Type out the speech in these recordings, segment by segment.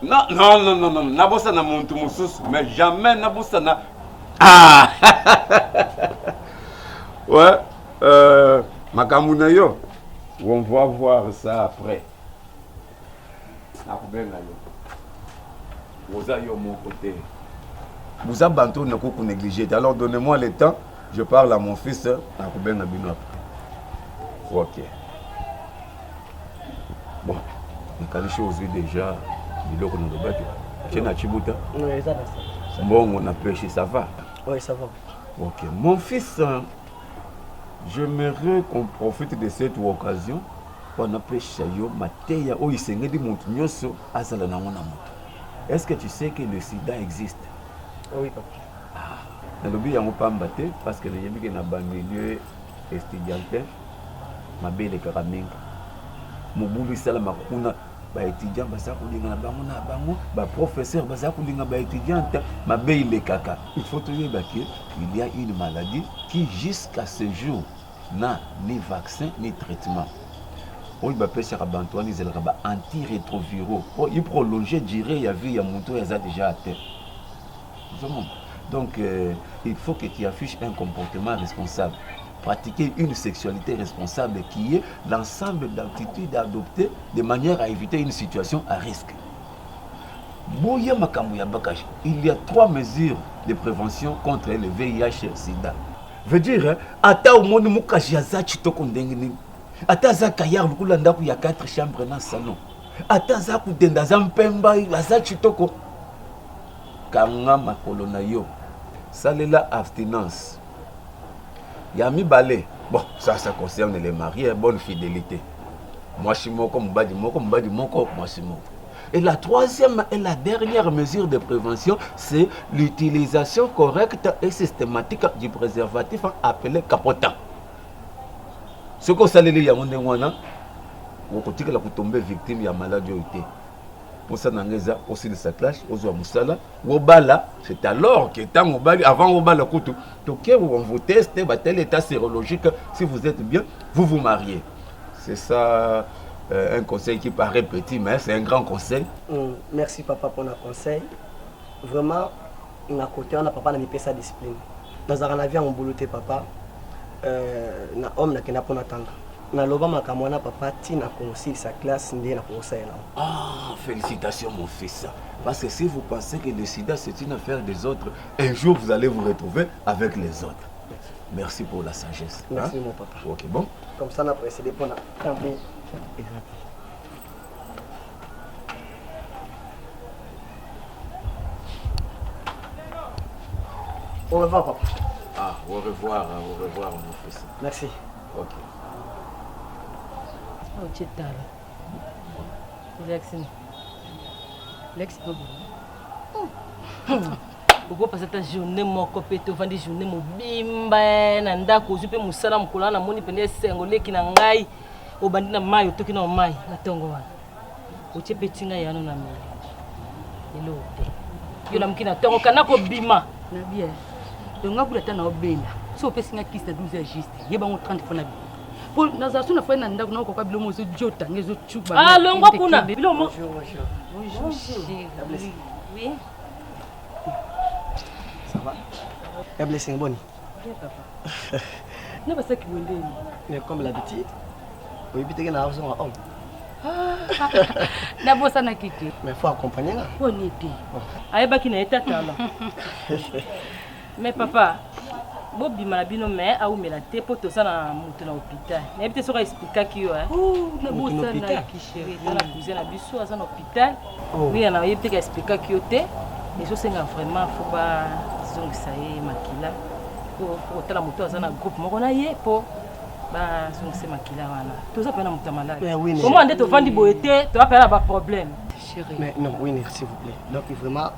Non, non, non, non, non. Nabosana muntu mususu, mais jamais nabosana. Ah! ouais, euh, makambo na yo. On va voir ça après. Nakubenga yo. Oza yo moko te. Boza bantu na ko négliger. Alors donnez-moi le temps. Je parle à mon fils. Nakubenga bino après. OK. Bon, nakanisi ozwi deja biloko nalobaki tie na chibuta mbongo na peshi ça va oui, ça va. ok mon fils euh, j'aimerais qu'on profite de cette occasion mpo anapesha yo mateya oyo esengeli moto nyonso azala nango na moto est ce que tu sais que le sida existe oui, papa. Ah, nalobi yango pamba te parce que nayebi ke na bamilieu estudiantin mabe elekaka mingi mobulu esalamaka kuna baétudiant baza kolinga na bango na bango baprofesseur baza kolinga baétudiante mabe elekaka il faut toyeba ke il y a une maladie qui jusqu'à ce jour na ni vaccin ni traitement oyo bapesaka bantu wana ezalaka ba antirétroviraux mpo iprolonge durée ya vie ya moto oyo aza déjà ate Donc, euh, il faut que tu affiches un comportement responsable. Pratiquer une sexualité responsable qui est l'ensemble d'attitudes adoptées de manière à éviter une situation à risque. Boya Makambo ya Bakash, il y a trois mesures de prévention contre le VIH et sida. Veut dire, hein, ata omoni mukashi aza kitoko ndenge nini, ata aza kayar lokola ndako ya 4 chambres na salon, ata aza kudenda aza mpemba aza kitoko Kanga makolo na yo. Salela abstinence. Ya mibale, bon ça ça concerne les maries, bonne fidelite. Mwasi moko, mobali moko, mobali moko, mwasi moko. Et la troisième et la dernière mesure de prévention, c'est l'utilisation correcte et systématique du préservatif appelé capotin. Ce que vous allez lire, vous allez vous tomber victime de la maladie. posa na nga eza osilisa clash ozwa mosala obala c'est alors que ntango obali avant obala kutu toke on vous teste batali état sérologique si vous êtes bien vous vous mariez c'est ça euh, un conseil qui paraît petit mais c'est un grand conseil mm, merci papa mpona conseil vraiment Na cote wana papa na mipesa discipline. Nazalaka na vie ya mobulu te papa. Euh, na homme nakenda mpo natanga. Naloba makambo wana papa ti na kosilisa classe nde nakokosalela yango. Ah, félicitations mon fils. Parce que si vous pensez que le sida c'est une affaire des autres, un jour vous allez vous retrouver avec les autres. Merci pour la sagesse. Merci hein? mon papa. Ok, bon. Comme ça, on a précédé pour la. Au revoir, papa. Ah, au revoir, hein, au revoir, mon fils. Merci. Ok. Oh, tu es tard. Jackson. Lex Bobo. okopasa ata journée moko mpe te ovandi journée mobimba na ndako ozwi mpe mosala mokolo wana namoni mpenza esengo leki na ngai obandi na mai otoki na mai na ntongo wana otie mpe ntinga yano na meli eloko te yo lamuki na ntongo kana kobima na bien donc nga bula ata na obenda so opesi nga kisi na 12 heures juste ye bango 30 mpo na bino mpo nazala so na fai na ndako nakokoka bilomo ezojota nge ezocuba ah, longwa kuna bilomo ya blessing boni Bien papa. Na basaki wendeni. Mais comme l'habitude, oyebi teke na azonga homme. nabosanaki te mais faut accompagne nga boni te ayebaki na ye tatala mais papa bobima na bino mais awumela te mpo toza na moto na hôpital nayebi te soki aexplikaki yo nabosanaki chéri na cousin na biso aza na hôpital Hopital. Oh. Oui, alors il peut expliquer que tu mais je sais vraiment faut pas zongisa ye makila. Faut faut tala moto aza na groupe moko na ye po ba zongisa makila wana. Toza pe na moto malade. Eh oui, Comment nde to vandi boye te, to apela ba problème. Chérie. Mais non, oui, s'il vous plaît. Donc vraiment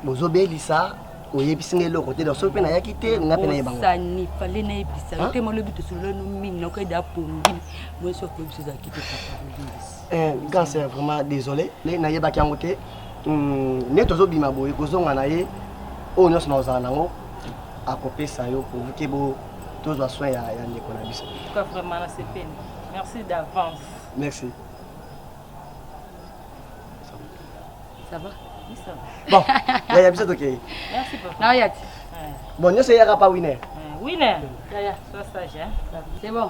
bozobelisa oyebisi nga eloko te donc soki mpe nayaki te nga mpe nayebangosani fale nayebisa yo te malobi tosololanu mingi nakoyeda pongi moyesi okoyebisa ozalaki te Eh, grâce eh, vraiment désolé mais nayebaki yango te hmm, neti ozobima boye kozonga na ye oyo nyonso na ozala nango akopesa yo pourvuke bo tozwa soin ya, ya ndeko na biso merci d'avance merci ça va bon yaya biso tokei merci papa na oyati bon nyonso eyaka pa winer winer yaya sois sage hein c'est bon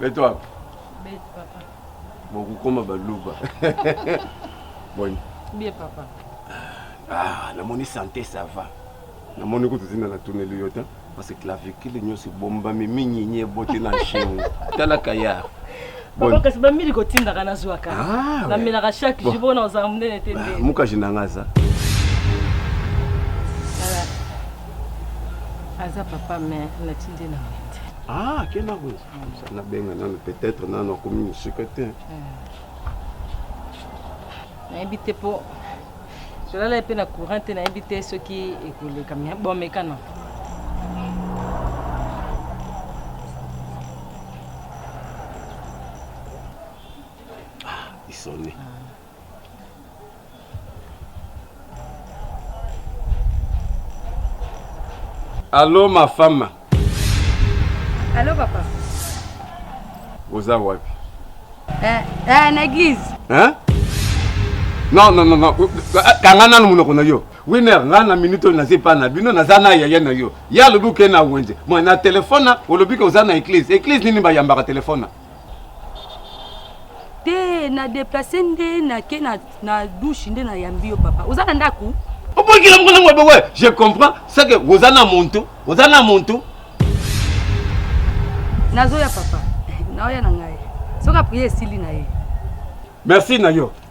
Beto wapi? Beto papa. Bon kokoma baluba. Boni. Bien papa. Ah, namoni santé ça va. Namoni kutu tina natuneli yo te parce que clavicule nyonso ebombami minyinyi eboti na nsheni. Tala kayar. Papa kasi bamili kotindaka nazwaka. Ah, Namelaka chaque jour mpona ozala monene te nde. Mukaji na nga aza. aza papa mais natindi na wende ah akenda kuna mm. nabenga nano peut-être nano akomi mosika te mm. nayebi te mpo tolala ye mpe na courant te nayebi te soki ekoleka me bomekana ah, isoni ah. Allô ma femme. Allô papa. Oza wapi? Eh, eh na église. Hein? Non non non non. Kanga nanu munoko na yo. Winner nga na minute oyo naza epai na bino naza na yaya na yo. Ya lobi oke na wenze. Moi na telefona olobi ke oza na église. Église nini bayambaka telefona? te na deplace nde nake na, na douche nde nayambi yo papa oza na ndako obongila moko nango bowe je comprends seke oza na muntu oza na muntu nazoya papa naoya na ngai soki aprie esili na ye merci na yo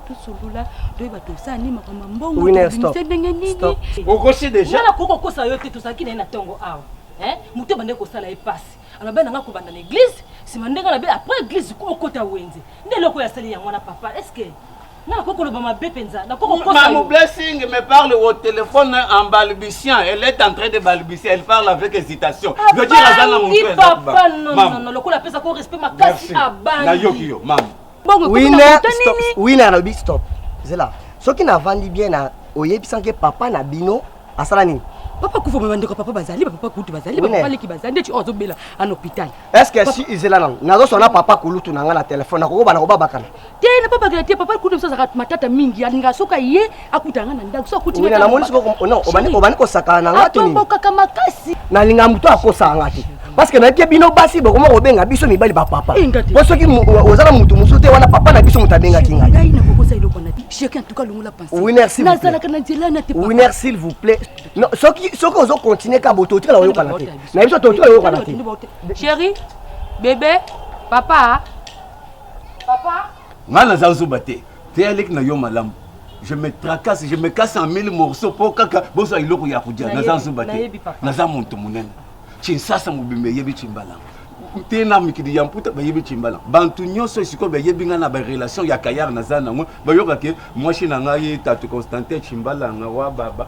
tosolola toyeba tosala nini makambo ya mbongo tobimise ndenge nini okosi deja wana koki kokosa yo te tozalaki na ye na ntongo awa moto ebandaki kosala ye mpasi alobai nanga kobanda na eglize nsima ndenge alobi après eglize koma okota wenze nde eloko yasali yango wana papa estce nga nakoki koloba mabe mpenza nakokokosamu blessing me parle au téléphone en balbutiant elle est en train de balbutier elle parle avec hésitation veut dire aza na motu papa non non lokola apesa ko respect makasi abangi nayoki yo mama Bongo ekomi na Winner, moto stop. nini? Winner alobi stop. Zela. Soki navandi bien na oyebisanke papa na bino asala nini? papa kufa me bandeko ya papa bazali bapapa kutu bazali Wine. bapapa leki bazali ndeti oyo azobela an hôpital Est-ce que si izela nango nazoswa na papa kulutu na nga na telefone nakokoba nakobabakana te na babakela te papa kutu mosu azalaka matata mingi alingaka soki aye akuta nga na ndako so akuti nga namoni siko non obani obani kosakana na nga to nini atobokaka makasi nalinga moto akosaka nga te parce que nayebi bino basi bokoma kobenga biso mibali bapapa eh, po soki oza na motu mosusu te wana papa na biso moto abengaki ngai winer s'il vous plaît soki ozo continue ka bo totikala koyokana te na biso totikala koyokana te chéri bebe papa papa ngai naza zoba te Teya leki na yo malamu. Je me tracasse, je me casse en mille morceaux po kaka bozwa eloko ya kodia. Naza nzoba te. Naza moto monene. Chinsasa mobimba eyebi Chimbalango. te na mikili ya mputa bayebi cimbala bantu nyonso esikoyo bayebi ngai na barelation ya kayar naza nango bayoka ke mwasi na ngai tatu constantin cimbalanga wa baba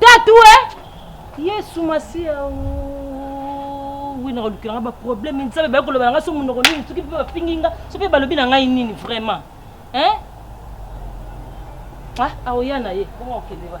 tatue yesu masiya wi nakolukela nga baproblème nzambe baye koloba na ngai so monoko nini soki mpe bafingi nga so mpe balobi na ngai nini vraiment hein ah aoya na ye bongo okende ba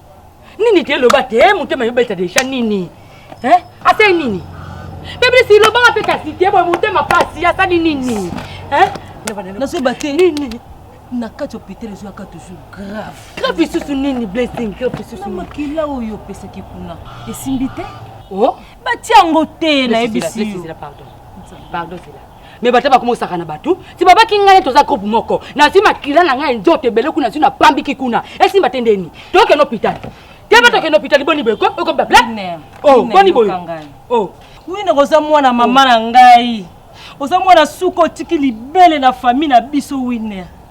nini te loba te eh, motema yobeta deja nini eh, asali nini peblisi lobanga mpe kasi te boye motema mpasi asali nini eh? nazoyeba te nini na kati hôpital ezwaka toujours grave grave lisusu nini blessing grave lisusu makila oyo opesaki kuna esimbi te oh? batia yango te nayebisi yo pardon zela me bata bakomosaka na bato ti babaki ngai toza groupe moko nazwi makila na ngai nzoto ebele kuna nazwi napambiki kuna esimba te ndeni tokende hôpital te ba tokende hôpital boni boye okomi baplaine oh, boni boye oh. wine koza mwana mama na ngai oza mwana suka otiki libele na famille na biso winer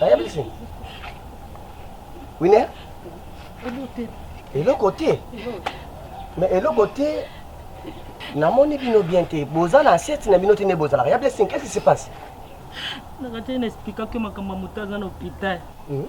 ayebisi wine eloko te mais eloko te namoni bino bien te boza na asieti na bino te nde bozalaka ya blessing qu'est-ce qui se passe nakati na explika ke makambo ya moto aza na hôpital hmm?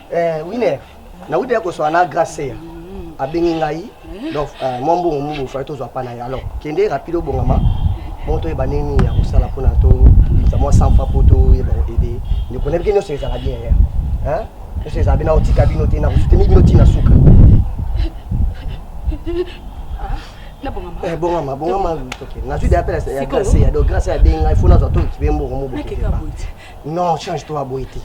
Eh, winner nauti ya koswana na graceya abengi ngai donc eh, mwa mbongo mobo fai tozwa mpa na ye alors kende rapide obongama mpo toyeba ndenge nini ya kosala mpona tobimisa mwa sanfa mpo toyeba koede ndeko nayebi ke nyonso ezala bien ya nyonso ezala bien nakotika bino te nakosuteni bino ntina suka bongama bongama toke nazwi deya mpe ya grace ya donc grace abengi ngai fo nazwa tokibe mbongo mobo non change to aboye te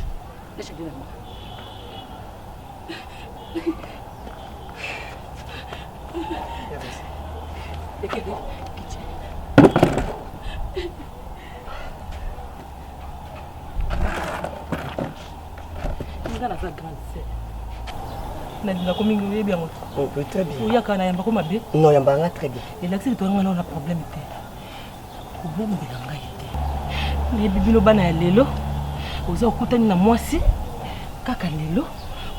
nga naza grande sœur nalinga ko mingi oyebi yango oyaka na yamba ko mabe no yamba nga très bien elakisi litwanga nao na problème te Kobongola ngai te. Nayebi bino bana ya lelo, oza okutani na mwasi kaka lelo,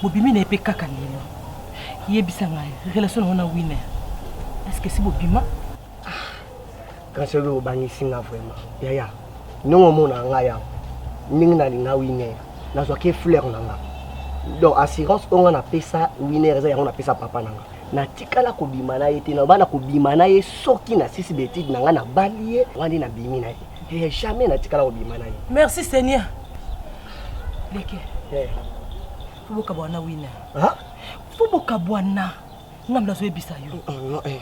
bobimi na ye mpe kaka lelo. Yebisa ngai relation na yo na Winner, est-ce que si bobima? Kasi oyo obangisi nga vraiment. Yaya, ndenge omonaka ngai awa, ndenge nalinga Winner, nazwaki fleur na nga. Donc assurance oyo nga napesa Winner eza yango napesa papa na nga. natikala kobima na ye te naloba na kobima na ye soki nasisi betide na ngai nabali ye wana nde nabimi na ye eh, jamais natikala kobima na ye merci seigneur leke eh. fo bokabwana wina fo bokabwana ngambo nazoyebisa yo oh, oh, eh.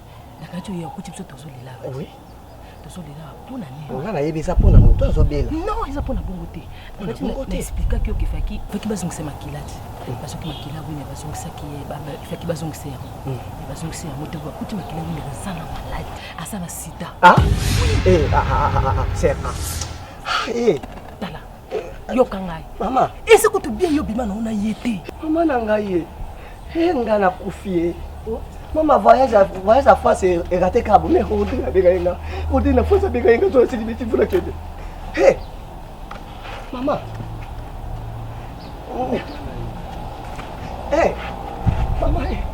nakati oyo akuti biso tozolela oui. tozolela mpo na nini nga nayebi eza mpo na moto azobela non eza mpo na bongo te naexplikaki yo kefaki faki bazongisa makila te mm. basoki makila wina bazongisaki ye faki bazongisa yango mm. bazongisa yango te bakuti makila wina aza na maladi aza na sida ah? eh, ah, ah, ah, ah, ah, ah. ah, ah. eh. tala yoka ngai mama ese kutu bien yo bima nango na ye te mama na ngai ye he nga na kufi ye oh. mama voyage voyage ya france erate e kabo mais odine abeka ye nga odine na france abeka ye nga zola sili biti mvula kende he mama oh. eh mama eh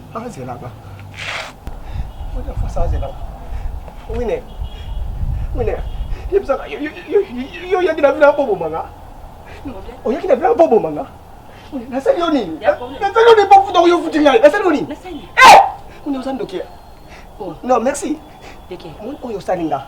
azelaka oza fasi azelaka wine wine yebisaka yo oyaki na vila bobomanga oyaki na vila bobomanga nasali yo nini nasali yo nini bofuta oyo ofuti ngai nasali yo nini wine oza ndoki non merci oyo osali nga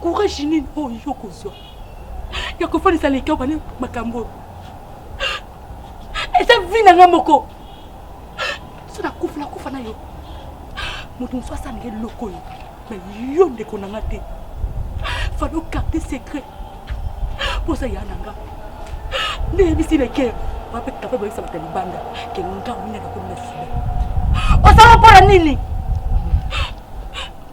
courage nini oyo yo kozwa ya kofandisa leki oyo bana makambo oyo eza vi na ngai moko so nakufa nakufa na yo moto mosusu asala ngai eloko oyo na yo ndeko na nga te falo carte secret mposa ya na nga nde yebisi leke wape kape boyebisa bato ya libanda ke ngambo nini akakomi na sida osala mpo na nini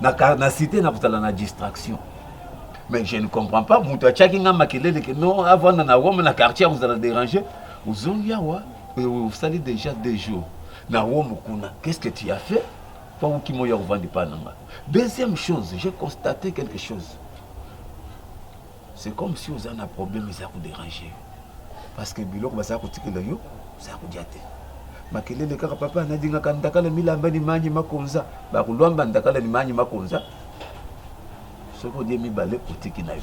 na, na site nakozala na distraction mais je ne comprends pas moto atiaki ngai makelele ke non avanda na rome na quartier akozala dérange ozongi awa osali déjà deux jours na rome kuna qu'est ce que tu as fait mpo okima oya kovanda epai na ngai deuxième chose j'ai constaté quelque chose C'est comme si oza na problème eza ko déranger yo. Parce que biloko baza ko tikela yo, oza ko dia te. Makelele kaka papa na dinga ka ndakala milamba ni manyi makonza, ba ko lwamba ndakala ni manyi makonza. Soki odie mibale otiki na yo.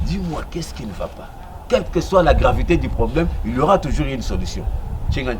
Dis-moi qu'est-ce qui ne va pas? Quelle que soit la gravité du problème, il y aura toujours une solution. Chingani.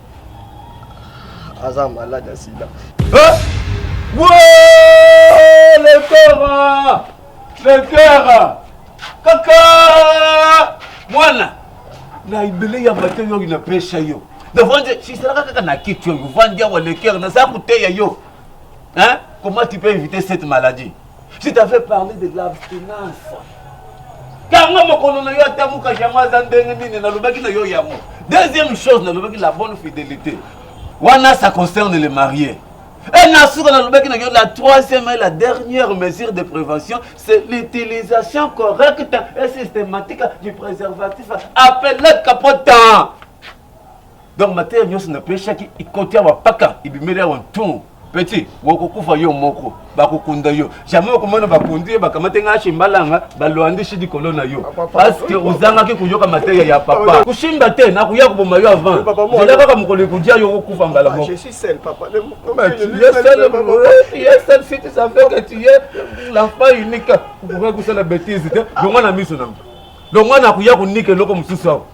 aza malade ya sida letera letera kaka mwana na ebele ya mateyo oyo napesa yo navandi sisalaka kaka na kiti oyo vandi awa lekere naza koteya yo hein comment tu peux éviter cette maladie Je t'avais parlé de l'abstinence. Kanga mokolo na yo atamuka yango aza ndenge nini nalobaki na yo yango. Deuxième chose nalobaki la bonne fidélité. Wana ça concerne les mariés. Et na suka nalobaki na yo la troisième et la dernière mesure de prévention c'est l'utilisation correcte et systématique du préservatif appelé capotin. donc mateya nyonso napesaki ikoti awa paka ibimeli awa ntu peti wakokufa yo moko bakokunda yo jamai okomona bakundi ye bakamate ngai ashimbalanga balwandisi likolo na yo parceke ozangaki koyoka mateya ya papa kosimba te nakoya koboma yo avant zela kaka mokolo ekodia yo okokufa mbala moko l'enfant unique okoki kosala betise te longa na miso nango longa nakoya konika eloko mosusu awa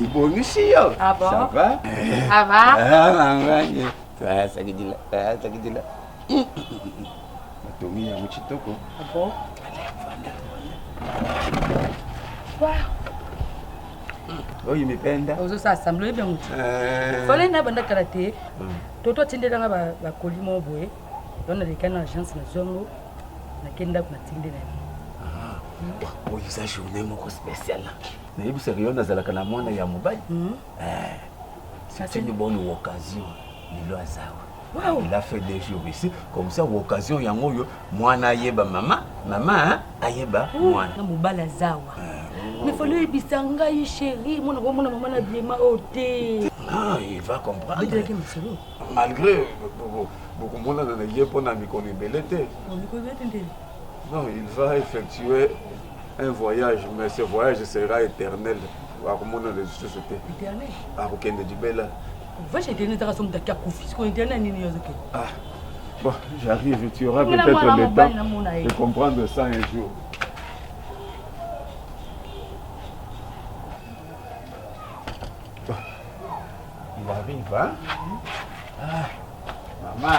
Ibonisi yo. Ah bon? Ça va? Ça va? Ah maman, ye. Toi ça dit là, toi ça dit là. Matomi ya muchitoko. Ah bon? Wow. Oyo mipenda. Ozo sa assemble bien mutu. Euh. Fallait na banda kala te. Toto atindela nga ba ba colis mo boye. Don na lekana agence na zongo. Na kenda kuna tindela. Ah. Oyo eza journée moko spéciale. nayebisaka yo nazalaka na mwana ya mobali hmm. eh, c'est une bonne occasion lelo azawa Wow. Il a fait des jours ici, comme ça, occasion yango yo, mwana ayeba mama, mama hein, ayeba mwana. Na mobala zawa. Eh, Mais faut lui bisa ngai chérie, mwana ko mwana mama na biema ote. Oh, ah, il va comprendre. Malgré beaucoup mwana na ye pona mikolo ebele te. Mikolo ebele te. Non, il va effectuer un voyage, mais ce voyage sera éternel. akomona lisusu te akokende libela voyage éternel ezaka somo taki akufi siko éternel nini yozoke ah, bon j'arrive tu auras peut-être le temps de comprendre ça un jour il arrive hein ah, maman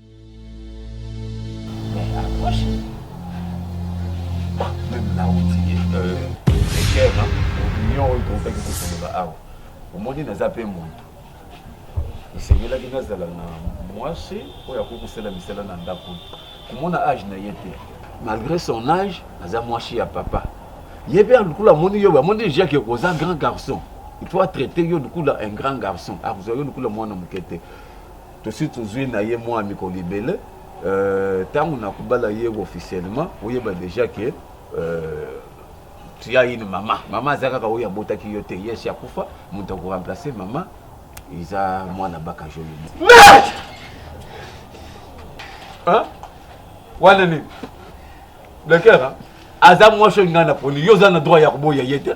omoni naza mpe moto esengelaki nazala na mwasi oyo akoki kosala misala na ndako komona age na ye te malgré son age aza mwasi ya papa ye mpe lokola amoni yo amoni deja ke oza grand garçon il faut atraite yo lokola un grand garçon akozwa yo lokola mwana moke te Tosi tozui na ye mua mikolo ebele. Euh, tango na kobala ye officiellement, oyeba deja ke euh, tu as une mama. Mama aza kaka oyo abotaki yo te. Yes, akufa, moto ako remplacer mama eza mwana baka joli. Merde! Hein? Wana nini? Blacker, hein? aza mwasi oyo ngai naponi yo oza na droit ya koboya ye te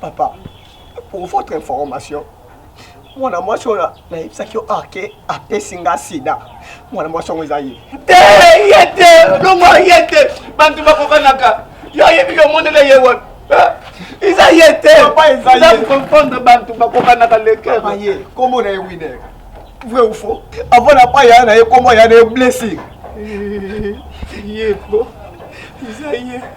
Papa, pour votre information, mwana mwasi oyo nayebisaki yo arke apesi nga sida mwana mwasi yango eza ye te ye te longo ye te bantu bakokanaka yo ayebi yo omonela ye wana eza ye te comprendre bantu bakokanaka lekeaye kombo na ye winer vrai ou faux avant na pa yaya na ye kombo yaya na ye blessing ye po eza ye